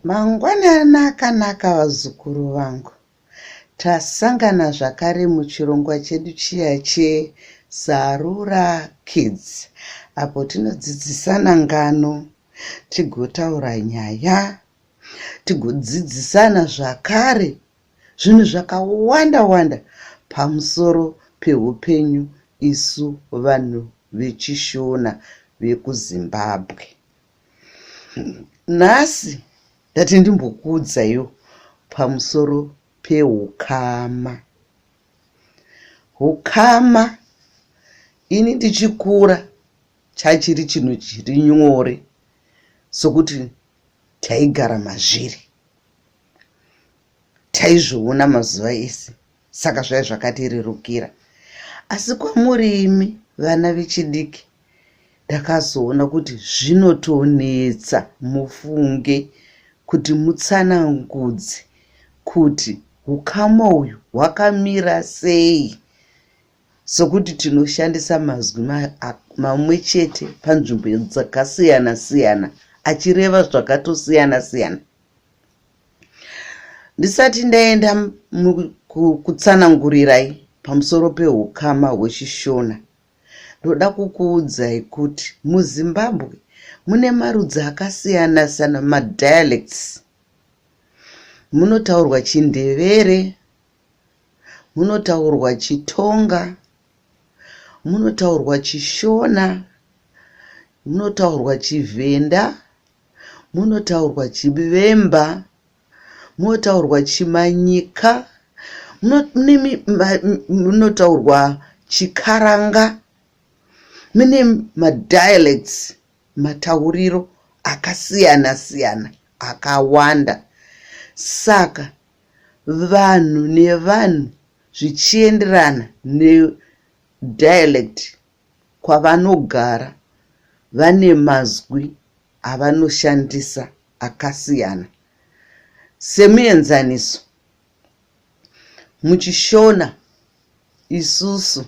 Mangwanani akanaka vazukuru vangu. Tasangana zvakare muchirongwa chedu chiya cheZarura Kids apo tinodzidzisana ngano, tigotaura nyaya, tigodzidzisana zvakare zvinhu zvakawanda wanda pamusoro pehupenyu isu vanhu vechishona vekuzimbabwe nhasi ndati ndimbokuudzaiwo pamusoro peukama ukama ini ndichikura chachiri chinhu chiri nyore sokuti taigara mazviri taizviona mazuva ese saka zvai zvakatirerukira asi kwamuri imi vana vechidiki ndakazoona kuti zvinotonetsa mufunge kuti mutsanangudzi kuti ukama uyu hwakamira sei sokuti tinoshandisa mazwi mamwe chete panzvimbo dzakasiyana siyana achireva zvakatosiyana siyana ndisati ndaenda kutsanangurirai pamusoro peukama hwechishona ndoda kukuudzai kuti muzimbabwe mune marudzi akasiyana siyana madialects munotaurwa chindevere munotaurwa chitonga munotaurwa chishona munotaurwa chivhenda munotaurwa chivemba munotaurwa chimanyika munotaurwa chikaranga mune madialects matauriro akasiyana siyana akawanda saka vanhu nevanhu zvichienderana nedialect kwavanogara vane mazwi avanoshandisa akasiyana. Semuenzaniso, muchiShona isusu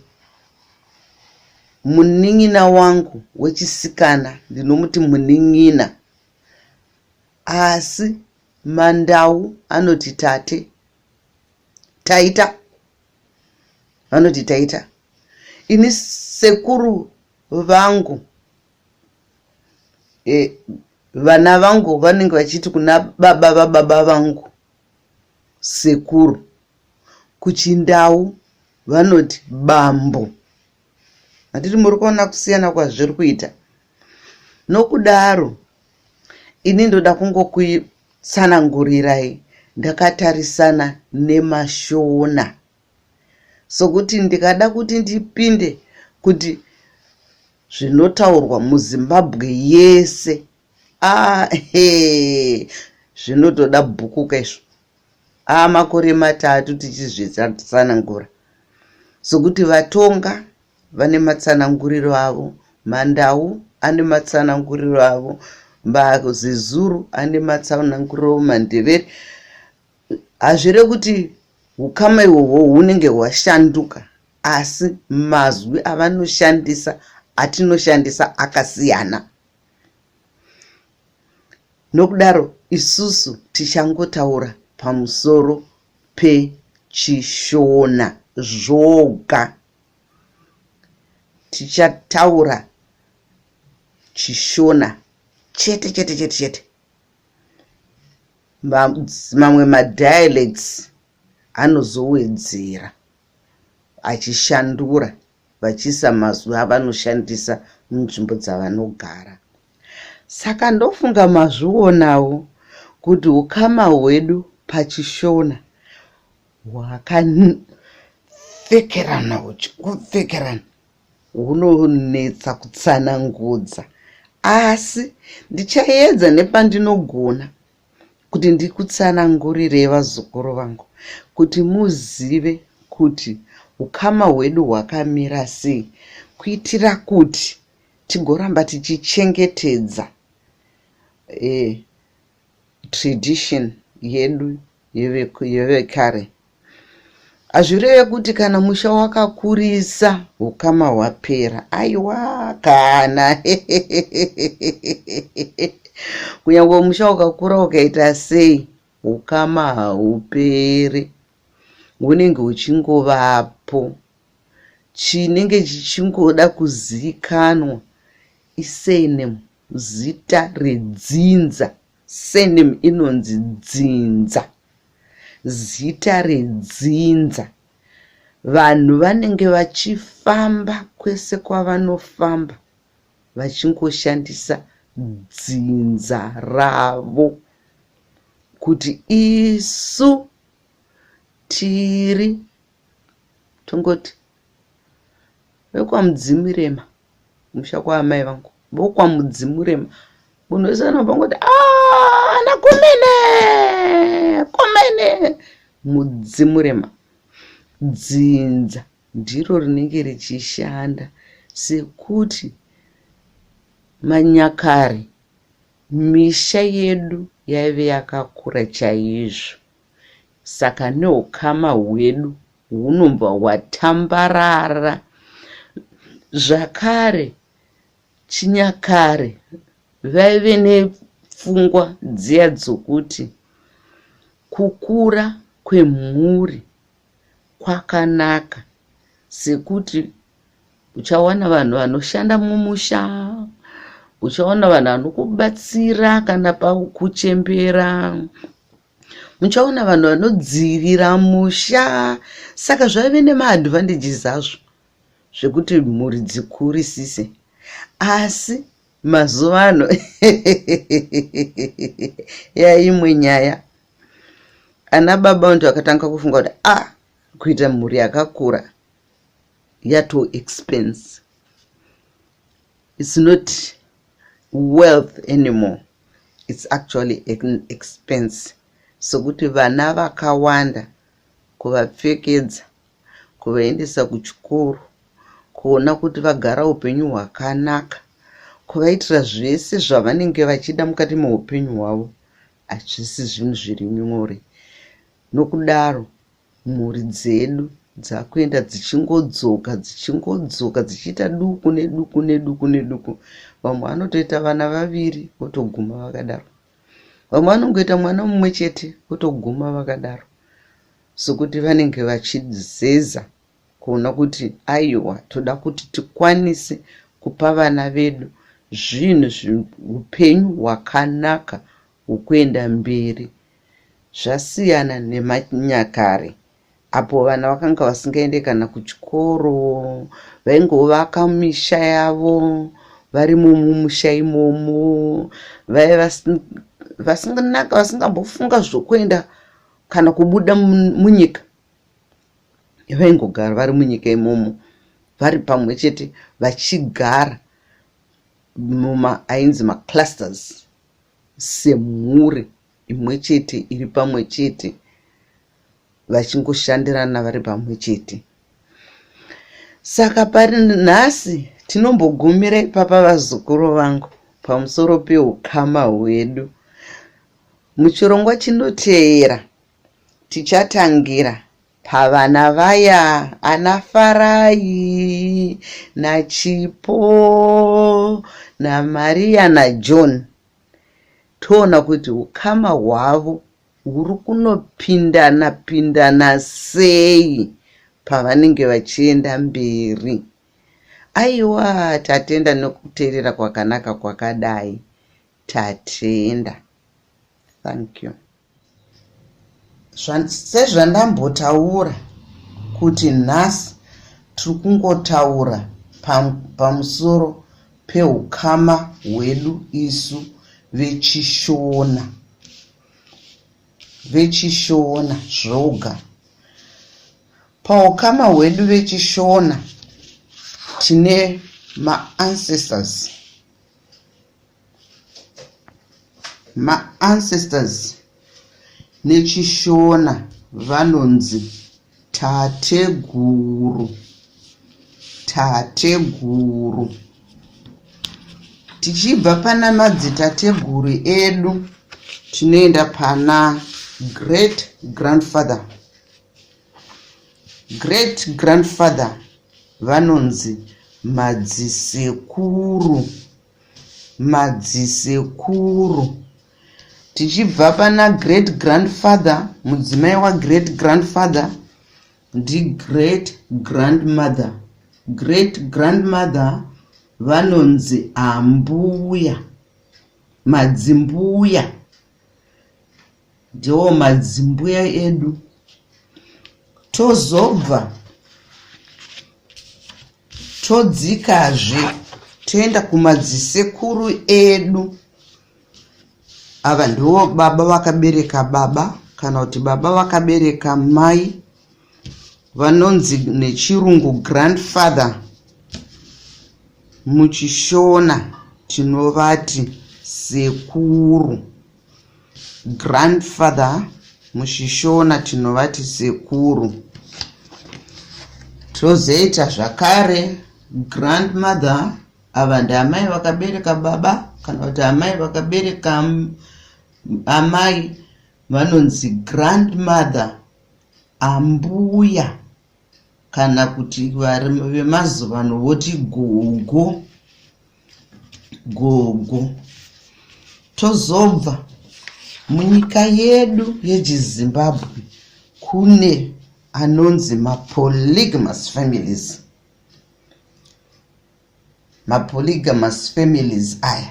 munin'ina wangu wechisikana ndinomuti munin'ina asi mandau anoti tate taita vanoti taita ini sekuru vangu e, vana vangu vanenge vachiti kuna baba vababa vangu sekuru kuchindau vanoti bambo handiti muri kuona kusiyana kwazviri kuita nokudaro ini ndoda kungokutsanangurirai ndakatarisana nemashona sokuti ndikada kuti ndipinde kuti zvinotaurwa muzimbabwe yese ahe ah, zvinotoda bhukuka izvo Ava makore matatu tichizvitsanangura sokuti vatonga vane matsananguriro avo, Mandau ane matsananguriro avo, Mazezuru ane matsananguriro avo, Mandevere. Hazvire kuti ukama ihwohwo hunenge hwashanduka, asi mazwi avanoshandisa atinoshandisa akasiyana. Nokudaro isusu tichangotaura pamusoro pechishona zvoga. Tichataura chishona chete chete chete chete. Mamwe madialects anozowedzera achishandura vachiisa mazwi avanoshandisa munzvimbo dzavanogara. Saka ndofunga mazvionawo kuti ukama hwedu pachishona hwakapfekerana huchi kupfekerana hunonetsa kutsanangudza asi ndichaedza nepandinogona kuti ndikutsanangurire vazukuru vangu kuti muzive kuti ukama hwedu hwakamira sei kuitira kuti tigoramba tichichengetedza e, tradition yedu yevekare hazvireve kuti kana musha wakakurisa ukama hwapera aiwa kana kunyange musha ukakura ukaita sei ukama hauperi hunenge huchingovapo chinenge chichingoda kuzivikanwa isenemu zita redzinza Surname inonzi dzinza. Zita redzinza. Vanhu vanenge vachifamba kwese kwavanofamba vachingoshandisa dzinza ravo kuti isu tiri tongoti vekwamudzimu irema musha kwaamai vangu vokwamudzimurema munhu wese anobva ngoti ah, ana kumene kumene mudzimurema dzinza ndiro rinenge richishanda sekuti manyakari misha yedu yaive yakakura chaizvo saka neukama hwedu hunobva hwatambarara zvakare chinyakare vaive nepfungwa dziya dzokuti kukura kwemhuri kwakanaka sekuti uchawana vanhu vanoshanda mumusha uchaona vanhu vanokubatsira kana pakuchembera muchaona vanhu vanodzivira musha saka zvaive nemaadvantages azvo zvekuti mhuri dzikurisise asi mazuva ano yaimwe nyaya ana baba vantu vakatanga kufunga kuti a ah, kuita mhuri yakakura yato expense it's not wealth anymore it's actually an expense sokuti vana vakawanda kuvapfekedza kuvaendesa kuchikoro kuona kuti vagara upenyu hwakanaka kuvaitira zvese zvavanenge vachida mukati meupenyu hwavo hazvisi zvinhu zviri nyore nokudaro Mhuri dzedu dzakuenda dzichingodzoka dzichingodzoka dzichiita duku neduku neduku neduku. Vamwe vanotoita vana vaviri votoguma vakadaro. Vamwe vanongoita mwana mumwe chete votoguma vakadaro sokuti vanenge vachizeza kuona kuti aiwa toda kuti tikwanise kupa vana vedu zvinhu zviupenyu hwakanaka hwokuenda mberi Zvasiyana nemanyakare apo vana vakanga vasingaende kana kuchikoro vaingovaka misha yavo vari mumusha imomo vaive vasinganaka vasingambofunga zvokuenda kana kubuda munyika vaingogara vari munyika imomo vari pamwe chete vachigara muma ainzi maclusters semhuri imwe chete iri pamwe chete vachingoshandirana vari pamwe chete saka pari nhasi tinombogumira ipapa vazukuru vangu pamusoro peukama hwedu muchirongwa chinoteera tichatangira pavana vaya ana farai nachipo namariya najohn toona kuti ukama hwavo huri kunopindana pindana sei pavanenge vachienda mberi aiwa tatenda nekuteerera kwakanaka kwakadai tatenda thank you sezvandambotaura kuti nhasi tiri kungotaura pamusoro peukama hwedu isu vechishona vechishona zvoga paukama hwedu vechishona tine maancestors maancestors nechishona vanonzi tateguru tateguru tichibva pana madzitateguru edu tinoenda pana great grandfather great grandfather vanonzi madzisekuru madzisekuru tichibva pana great grandfather mudzimai wagreat grandfather ndigreat grandmother great grandmother vanonzi ambuya madzimbuya ndiwo madzimbuya edu tozobva todzikazve toenda kumadzisekuru edu ava ndiwo baba vakabereka baba kana kuti baba vakabereka mai vanonzi nechirungu grandfather muchishona tinovati sekuru grandfather muchishona tinovati sekuru tozoita zvakare grandmother ava ndiamai vakabereka baba kana kuti amai vakabereka amai vanonzi grandmother ambuya kana kuti vari vemazuvano voti gogo gogo tozobva munyika yedu yechizimbabwe kune anonzi mapolygamous families mapolygamous families aya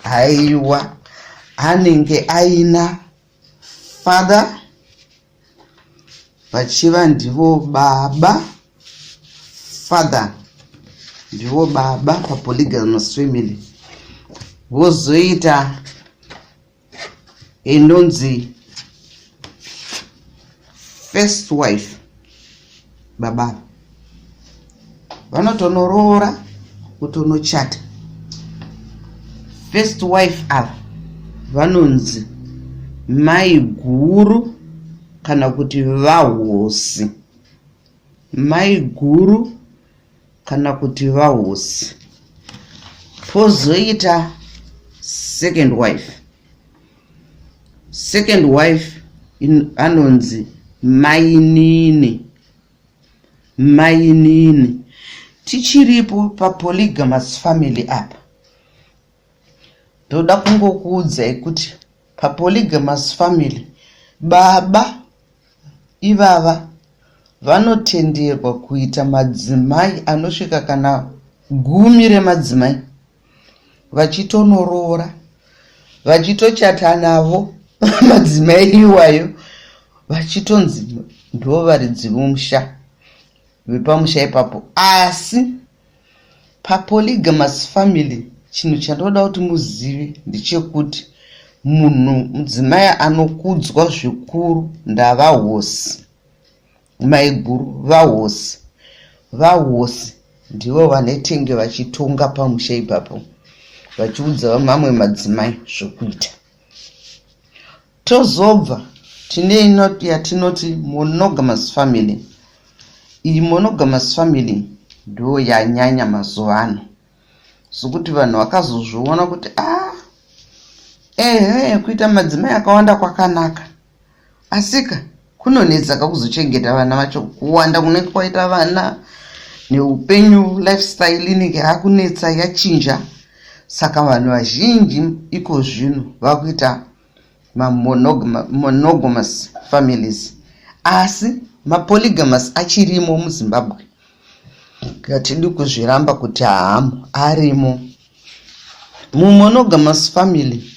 haiwa anenge aina father vachiva ndivo baba father ndivo baba papolygamous family vozoita inonzi first wife baba vanotonoroora kutonochata first wife ava vanonzi mai guru kana kuti vahosi mai guru kana kuti vahosi pozoita second wife second wife anonzi mainini mainini tichiripo papolygamous family apa ndoda kungokuudzai kuti papolygamous family baba ivava vanotenderwa kuita madzimai anosvika kana gumi remadzimai vachitonoroora vachitochata navo madzimai iwayo vachitonzi ndovaridzivomusha vepamusha ipapo asi papolygamous family chinhu chandoda kuti muzive ndechekuti munhu mudzimai anokudzwa zvikuru ndavahosi maiguru vahosi vahosi ndivo vanetenge vachitonga pamusha ipapo vachiudza vamamwe madzimai zvokuita Tozobva tine ino yatinoti monogamous family. Iyi monogamous family ndo yanyanya mazuva ano zvokuti vanhu vakazozviona kuti a ah, ehe kuita madzimai akawanda kwakanaka asika kunonetsaka kuzochengeta vana vacho kuwanda kunenge kwaita vana neupenyu lifestyle inenge yakunetsa yachinja saka vanhu vazhinji iko zvino vakuita mamonogamous families asi mapolygamous achirimo muzimbabwe hatidi kuzviramba kuti haamu arimo mumonogamous family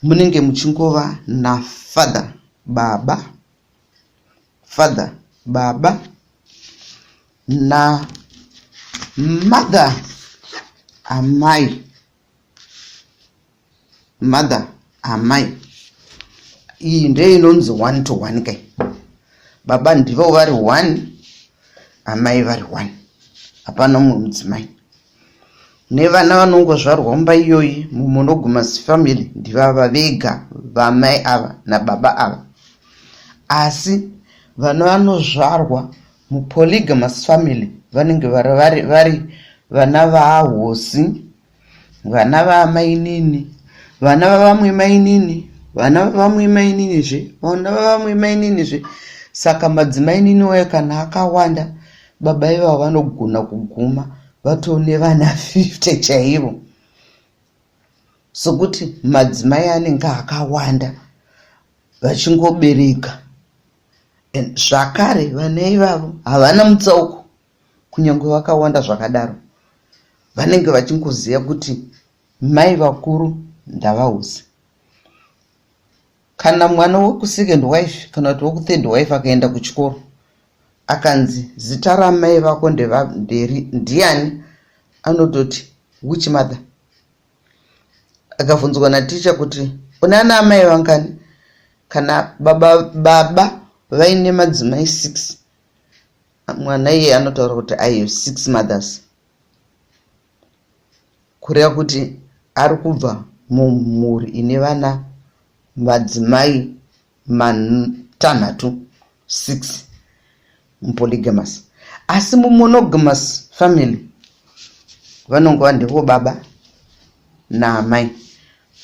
munenge muchingova nafather baba father baba na mother amai mother amai iyi ndeye inonzi one to one kai baba ndivo vari one amai vari one hapana umwe mudzimai nevana vanongozvarwa mumba iyoyi mumonoguma sifamily ndivava vega vamai ava nababa ava asi vana vanozvarwa mupolygamous family vanenge vari vari vari vana vahosi vana vamainini vana vavamwe mainini vana vavamwe mainini zve vana vavamwe mainini zve saka madzimainini wayo kana akawanda baba ivavo vanogona kuguma vatone vana 50 chaivo sokuti madzimai anenge akawanda vachingobereka zvakare vana ivavo havana mutsauko kunyange vakawanda zvakadaro vanenge vachingoziva kuti mai vakuru ndavausi kana mwana wekusecond wife kana kuti wekuthird wife akaenda kuchikoro akanzi zita ramai vako ndevanderi ndiani anototi which mother akavhunzwa naticha kuti une ana amai vangani kana baba baba vaine madzimai six mwana iye anotaura kuti i have six mothers kureva kuti ari kubva mumhuri ine vana madzimai matanhatu 6 mupolygamous asi mumonogamous family vanongova ndivo baba naamai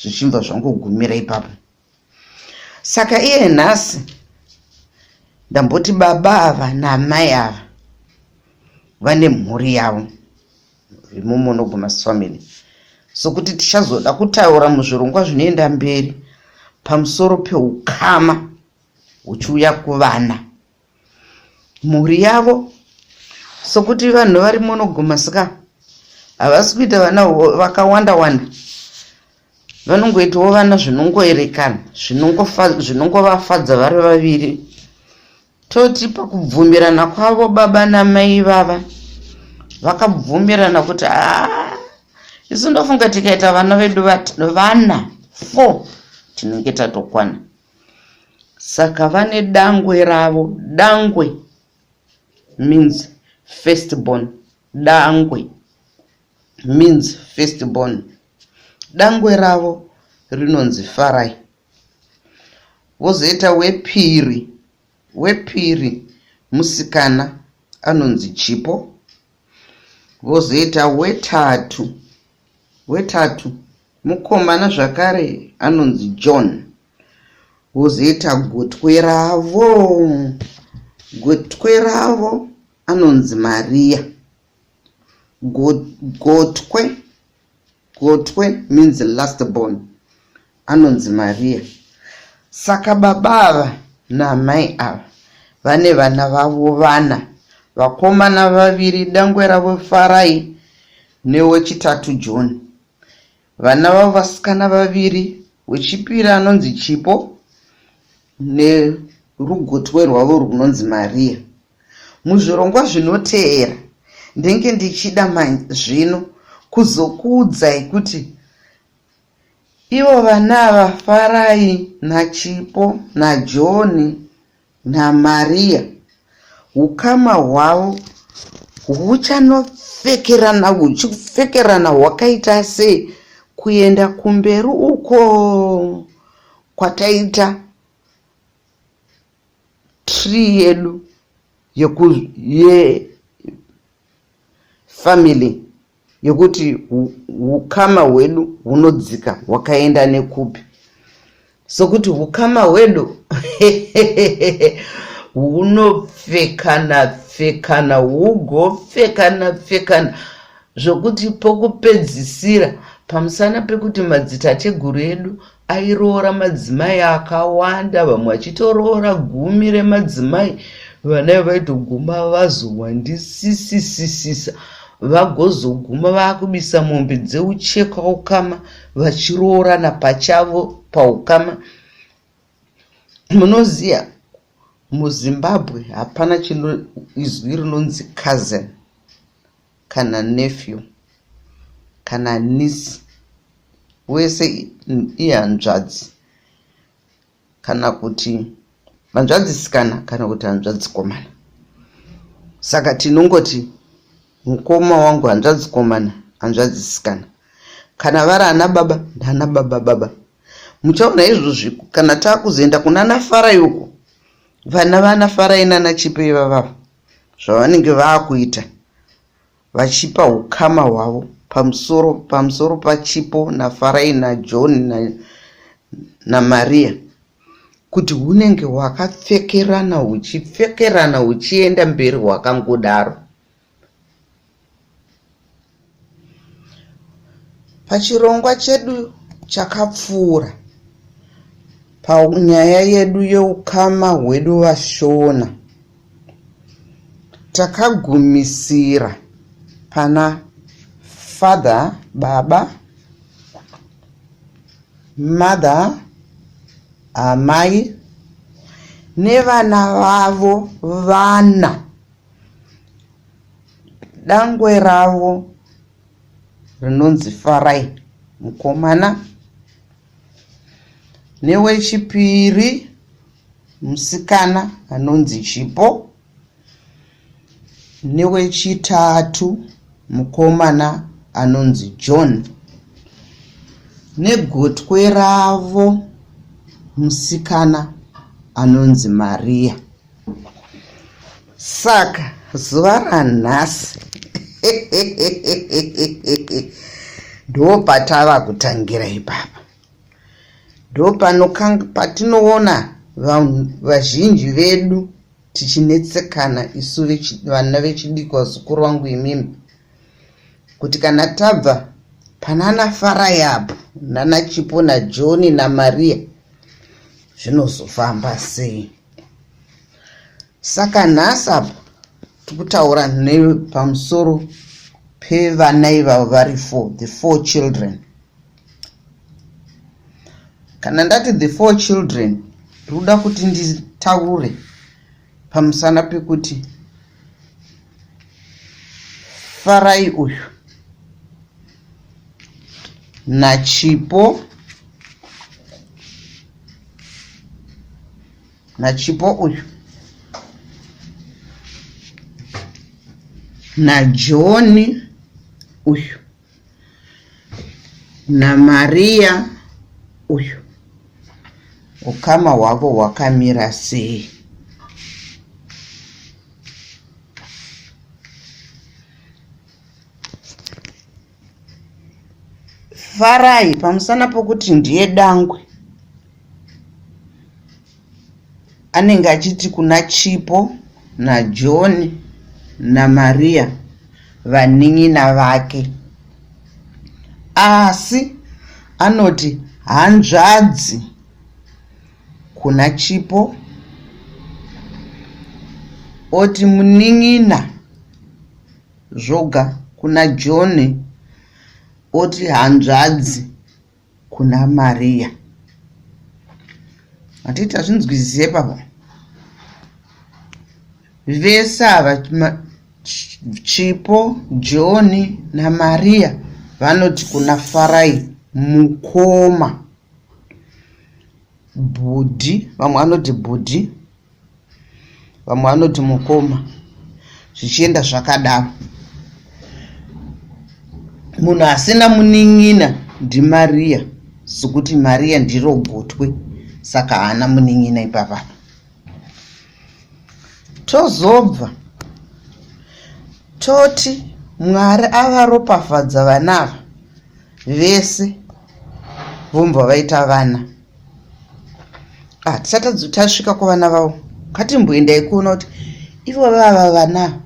zvichibva zvangogumira ipapo saka iye nhasi ndamboti baba ava naamai ava vane mhuri yavo remumonogomous family sokuti tichazoda kutaura muzvirongwa zvinoenda mberi pamusoro peukama huchiuya kuvana mhuri yavo sokuti vanhu vari monogomous ka havasi kuita vana vakawanda wanda vanongoitawo vana zvinongoerekana zvinongovafadza vari vaviri Toti pakubvumirana kwavo baba namai ivava vakabvumirana kuti aa ah, isu ndofunga tikaita vana vedu vana four tinenge tatokwana saka vane dangwe ravo dangwe means first born dangwe means first born dangwe ravo rinonzi farai Vozoita wepiri, wepiri musikana anonzi Chipo. Vozoita wetatu, wetatu mukomana zvakare anonzi John. Vozoita gotwe ravo, gotwe ravo anonzi Maria. Go- Gotwe Gotwe means last born anonzi Maria. Saka baba ava naamai ava vane vana vavo vana, vakomana vaviri, dangwe ravo Farai newechitatu John. Vana vavo vasikana vaviri, wechipiri anonzi Chipo nerugotwe rwavo rwunonzi Maria. Muzvirongwa zvinoteera ndenge ndichida manje zvino kuzokuudzai kuti ivo vana ava Farai naChipo naJohn naMaria ukama hwavo huchanopfekerana huchipfekerana hwakaita sei kuenda kumberi uko kwataita tree yedu yeku ye family yekuti hukama hwedu hunodzika hwakaenda nekupi sokuti hukama hwedu hunopfekana pfekana hugopfekana pfekana zvokuti pokupedzisira pamusana pekuti madzitateguru edu airoora madzimai akawanda vamwe vachitoroora gumi remadzimai vanai vaitoguma vazowandisisisisisa vagozoguma vakubisa mombe dzeuchekwa ukama vachiroorana pachavo paukama munoziva muzimbabwe hapana chino izwi rinonzi cousin kana nephew kana niece wese ihanzvadzi kana kuti hanzvadzisikana kana kuti hanzvadzikomana saka tinongoti mukoma wangu hanzvadzikomana hanzvadzisikana kana vari ana baba ndana baba baba muchaona izvozvi kana taakuzoenda kunana farai uko vana vana farai nana chipo ivavavo zvavanenge vakuita vachipa ukama hwavo pamusoro pamusoro pachipo nafarai najohn na, namaria kuti hunenge hwakapfekerana huchipfekerana huchienda mberi hwakangodaro Pachirongwa chedu chakapfuura panyaya yedu yeukama hwedu vashona takagumisira pana father baba mother amai nevana vavo vana dangwe ravo rinonzi farai mukomana newechipiri musikana anonzi chipo newechitatu mukomana anonzi john negotwe ravo musikana anonzi maria saka zuva ranhasi ndopatava kutangira ipapa ndopano patinoona vanhu vazhinji vedu tichinetsekana isu vana vechidiko zukuru vangu imimi kuti kana tabva panana farai apo nana chipo najoni namaria zvinozofamba sei saka nhasi apo tikutaura nepamusoro pevana ivavo vari four the four children kana ndati the four children ndikuda kuti nditaure pamusana pekuti farai uyu nachipo nachipo uyu najoni uyu naMaria uyu ukama hwavo hwakamira sei farai pamusana pokuti ndiye dangwe anenge achiti kuna chipo najohn namaria vanin'ina vake asi anoti hanzvadzi kuna chipo oti munin'ina zvoga kuna john oti hanzvadzi kuna Maria. Hatiti hazvinzwizise pavo. Vese ava Chipo, John naMaria vanoti kuna Farai mukoma. Bhudhi, vamwe vanoti bhudhi. vamwe vanoti mukoma zvichienda zvakadaro munhu asina munin'ina ndimariya sokuti mariya ndiro gotwe saka haana munin'ina ipapa tozobva toti mwari avaropafadza vanava vese vombva vaita vana ah, tisati tasvika kuvana vavo ngatimboendai kuona kuti ivo vava vana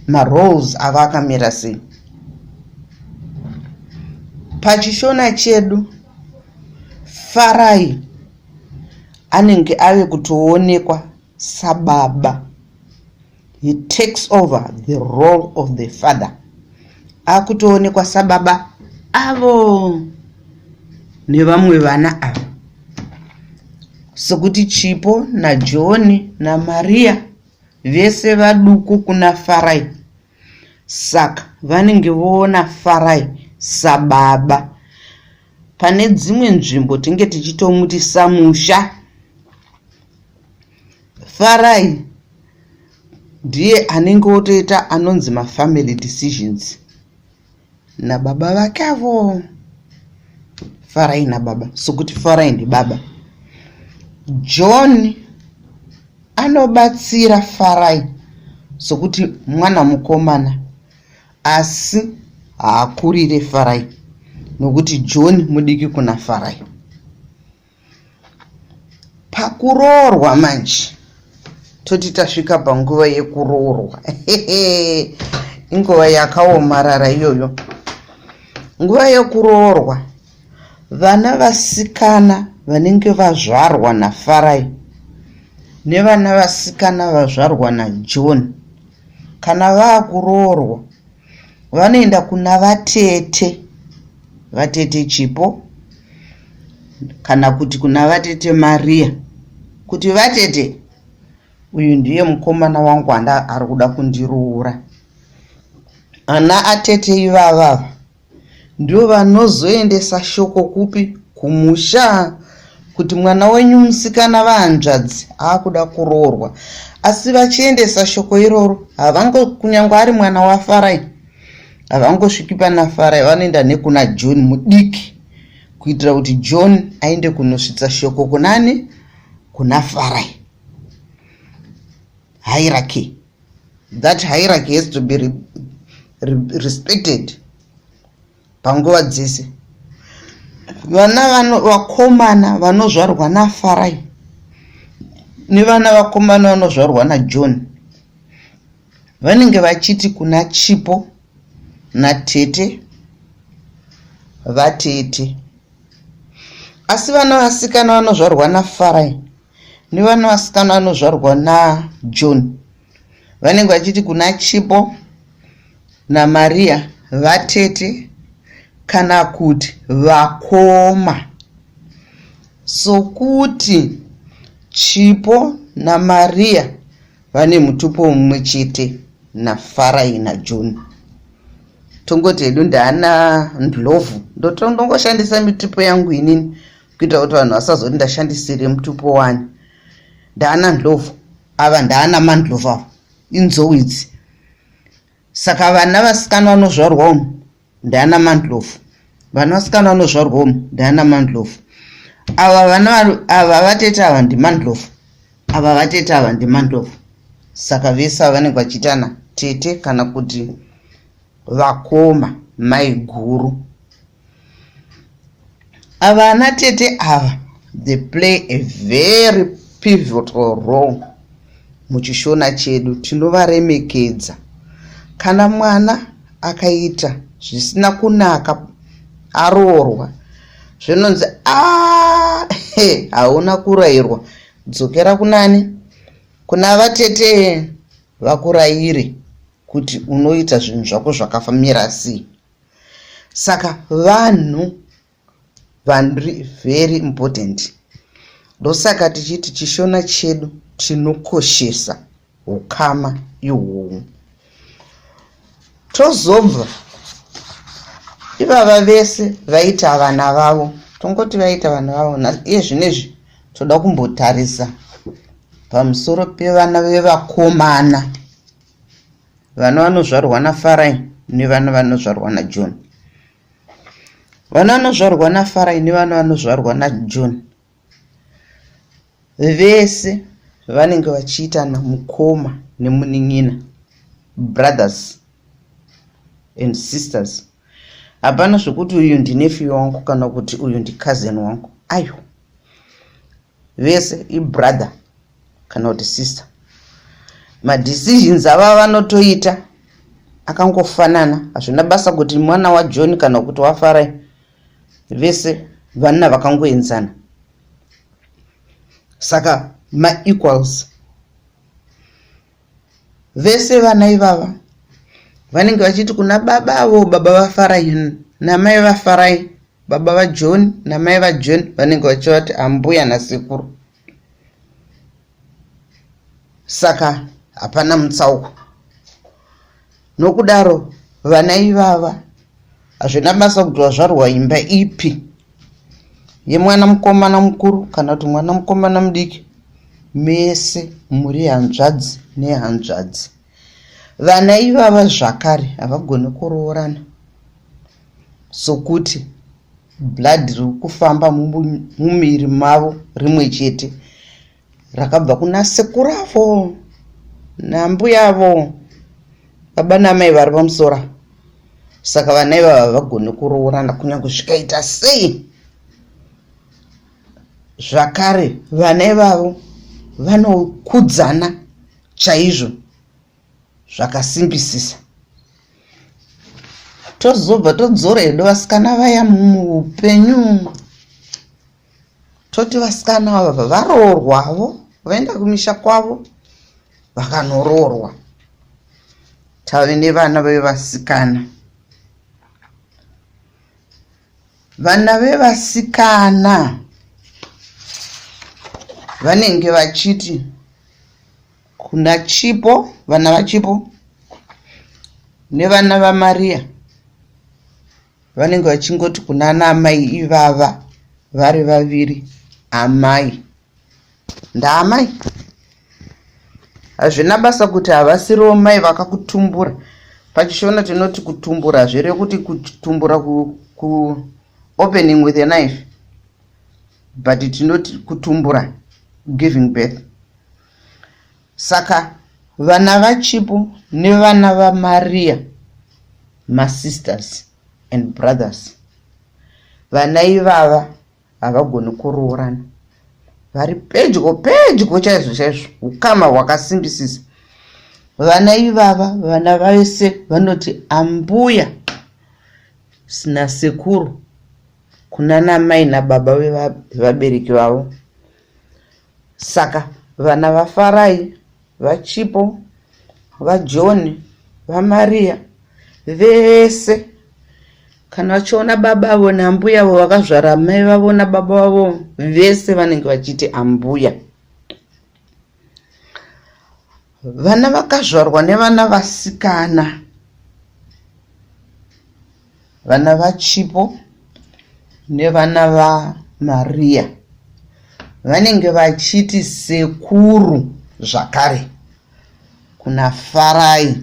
maroles ava akamira sei pachishona chedu farai anenge ave kutoonekwa sababa he takes over the role of the father akutoonekwa sababa avo nevamwe vana ava sokuti chipo najoni namariya vese vaduku kuna farai saka vanenge voona farai sababa pane dzimwe nzvimbo tinge tichitomuti samusha farai ndiye anenge otoita anonzi mafamily decisions nababa vake avo farai nababa sokuti farai ndibaba john anobatsira farai sokuti mwana mukomana asi haakurire farai nokuti john mudiki kuna farai pakuroorwa manje toti tasvika panguva yekuroorwa inguva yakaomarara iyoyo nguva yekuroorwa vana vasikana vanenge vazvarwa nafarai nevana vasikana vazvarwa najohn kana vaakuroorwa vanoenda kuna vatete vatete chipo kana kuti kuna vatete mariya kuti vatete uyu ndiye mukomana wangu anda ari kuda kundiroora ana atete ivavava Ndovanozoendesa shoko kupi kumusha kuti mwana wenyu musikana vahanzvadzi aakuda kuroorwa asi vachiendesa shoko iroro havango kunyange ari mwana wafarai havangosviki pana farai vanoenda nekuna john mudiki kuitira kuti john aende kunosvitsa shoko kunani kuna farai hairaki that hierarchy has to be re, re, respected panguva dzese vana vano vakomana vanozvarwa nafarai nevana vakomana vanozvarwa najohn vanenge vachiti kuna chipo natete vatete asi vana vasikana vanozvarwa nafarai nevana vasikana vanozvarwa najohn vanenge vachiti kuna chipo namaria vatete kana kuti vakoma sokuti chipo namaria vane mutupo mumwe chete nafarai najohn tongoti hedu ndaana ndlovu ndotondongoshandisa mitupo yangu inini kuita kuti vanhu vasazoti ndashandisire mutupo wani ndaana ndlovu ava ndaana mandlovu avo inzou idzi saka vana vasikana vanozvarwa umu ndaana mandlovu vana vasikana vanozvarwa umu ndaana mandlovu ava vana ava vatete ava ndimandlovu ava vatete ava ndimandlovu saka vese ava vanenge vachiitana tete kana kuti vakoma maiguru ava ana tete ava they play a very pivotal role muchishona chedu tinovaremekedza kana mwana akaita zvisina kunaka aroorwa zvinonzi ah, hauna kurayirwa dzokera kunani kuna vatete vakurayire kuti unoita zvinhu zvako zvakafamira sei saka vanhu vandri very important ndosaka tichiti chishona chedu tinokoshesa ukama ihwohwo tozobva ivava vese vaita vana vavo tongoti vaita vana vavo iye zvinezvi toda kumbotarisa pamusoro pevana vevakomana vana vanozvarwa nafarai nevana vanozvarwa najoni vana vanozvarwa nafarai nevana vanozvarwa najoni vese vanenge vachiitana mukoma nemunin'ina brothers and sisters hapana zvekuti uyu ndinefi wangu kana kuti uyu ndicousin wangu aiwa vese ibrother kana kuti sister madecisions ava vanotoita akangofanana hazvina basa kuti mwana wajohn kana kuti wafarai vese vanna vakangoenzana saka maequals vese vana ivava vanenge vachiti kuna baba avo baba vafarai namai vafarai baba vajohn namai vajohn vanenge vachivati ambuya nasekuru saka hapana mutsauko nokudaro vana ivava hazvina basa kuti vazvarwa imba ipi yemwana mukomana mukuru kana kuti mwana mukomana mudiki mese muri hanzvadzi nehanzvadzi vana ivava zvakare havagoni kuroorana sokuti blood riri kufamba mumiri mavo rimwe chete rakabva kuna sekuru avo nambuya avo baba namai vari pamusora saka vana ivava havagoni kuroorana kunyange zvikaita sei zvakare vana ivavo vanokudzana chaizvo zvakasimbisisa tozobva todzora hedu vasikana vaya muupenyu toti vasikana vava varoorwavo vaenda kumisha kwavo vakanoroorwa tave nevana vevasikana vana vevasikana vanenge vachiti Kuna Chipo, vana vaChipo nevana vaMaria vanenge vachingoti kuna ana amai ivava vari vaviri amai ndaamai hazvina basa kuti havasiriwo mai vakakutumbura pachishona tinoti kutumbura zvere kuti kutumbura ku, ku opening with a knife but tinoti kutumbura giving birth Saka vana vachipo nevana vamariya masisters and brothers vana ivava havagoni kuroorana vari pedyo pedyo chaizvo chaizvo ukama hwakasimbisisa vana ivava vana vese vanoti ambuya sina sekuru kuna namai nababa vevabereki vavo Saka vana vaFarai, vaChipo, vaJohn, vaMaria vese kana vachiona baba avo naambuya avo vakazvara mai vavo nababa vavo vese vanenge vachiti ambuya. Vana vakazvarwa nevana vasikana. Vana vaChipo nevana vaMaria vanenge vachiti sekuru zvakare kuna Farai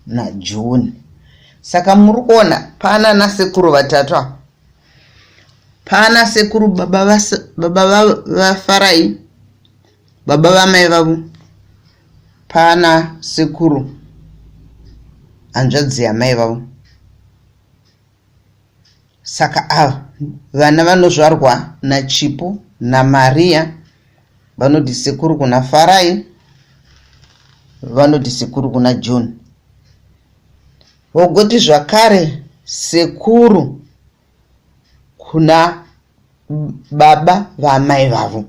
naJoni. Saka muri kuona pana nasekuru vatatu ava pana sekuru baba vaFarai baba vamai vavo pana sekuru hanzvadzi yamai vavo saka ava vana vanozvarwa nachipo namariya vanoti sekuru kuna farai vanoti sekuru kuna john vogoti zvakare sekuru kuna baba vamai vavo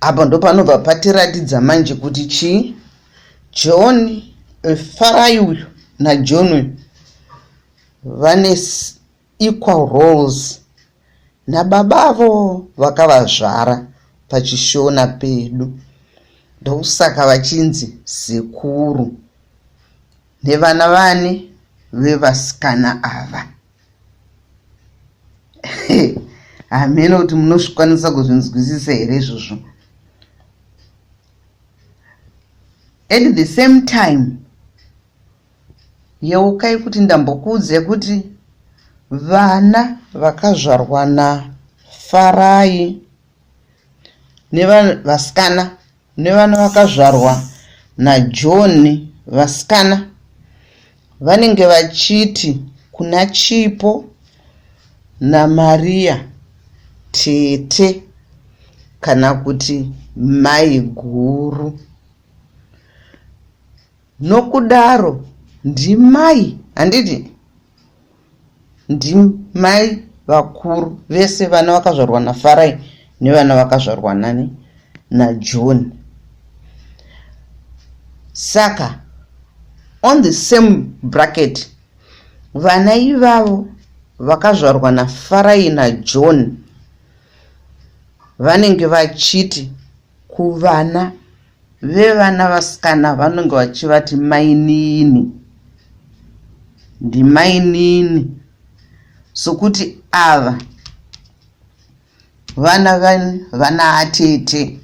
apa ndopanobva patiratidza manje kuti chii john eh, farai uyu najohn uyu vane equal roles nababa avo vakavazvara pachishona pedu ndokusaka vachinzi sekuru nevana vani vevasikana ava hameno kuti munozvikwanisa kuzvinzwisisa here izvozvo at the same time yeukai kuti ndambokuudze kuti vana vakazvarwa nafarai nevasikana nevana vakazvarwa najohn vasikana vanenge vachiti kuna chipo namariya tete kana kuti mai guru nokudaro ndimai handiti ndimai vakuru vese vana vakazvarwa nafarai nevana vakazvarwa nani najoni saka on the same bracket vana ivavo vakazvarwa nafarai najohn vanenge vachiti kuvana Vevana vasikana vanonge vachivati mainini ndimainini sokuti ava vana vana atete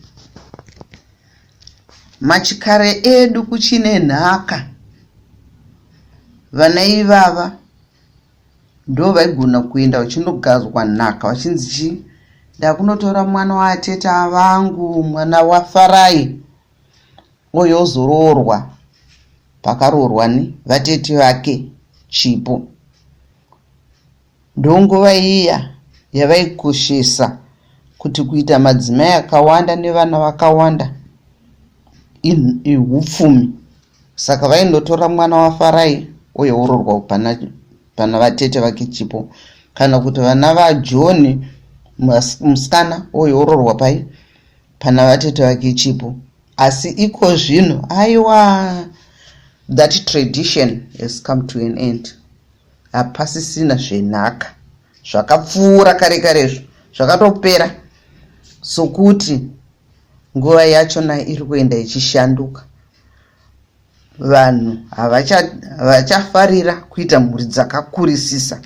machikare edu kuchine nhaka vana ivava ndo vaigona kuenda vachindogadzwa nhaka vachinzi chii ndakunotora mwana waatete avangu mwana wafarai oyo ozoroorwa pakaroorwa ni vatete vake chipo ndonguva iya yavaikoshesa kuti kuita madzimai akawanda nevana vakawanda ihupfumi Saka vaindotora mwana waFarai oyororwa pana, pana vatete vake Chipo kana kuti vana vaJoni musikana oyororwa pai pana vatete vake Chipo. Asi iko zvino aiwa that tradition has come to an end. Hapasisina zvenhaka zvakapfuura kare karezvo zvakatopera sokuti nguva yachona iri kuenda ichishanduka vanhu havachafarira kuita mhuri dzakakurisisa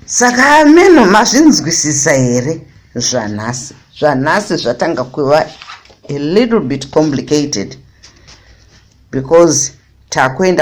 saka ameno mazvinzwisisa here zvanhasi zvanhasi zvatanga kuva a little bit complicated because takuenda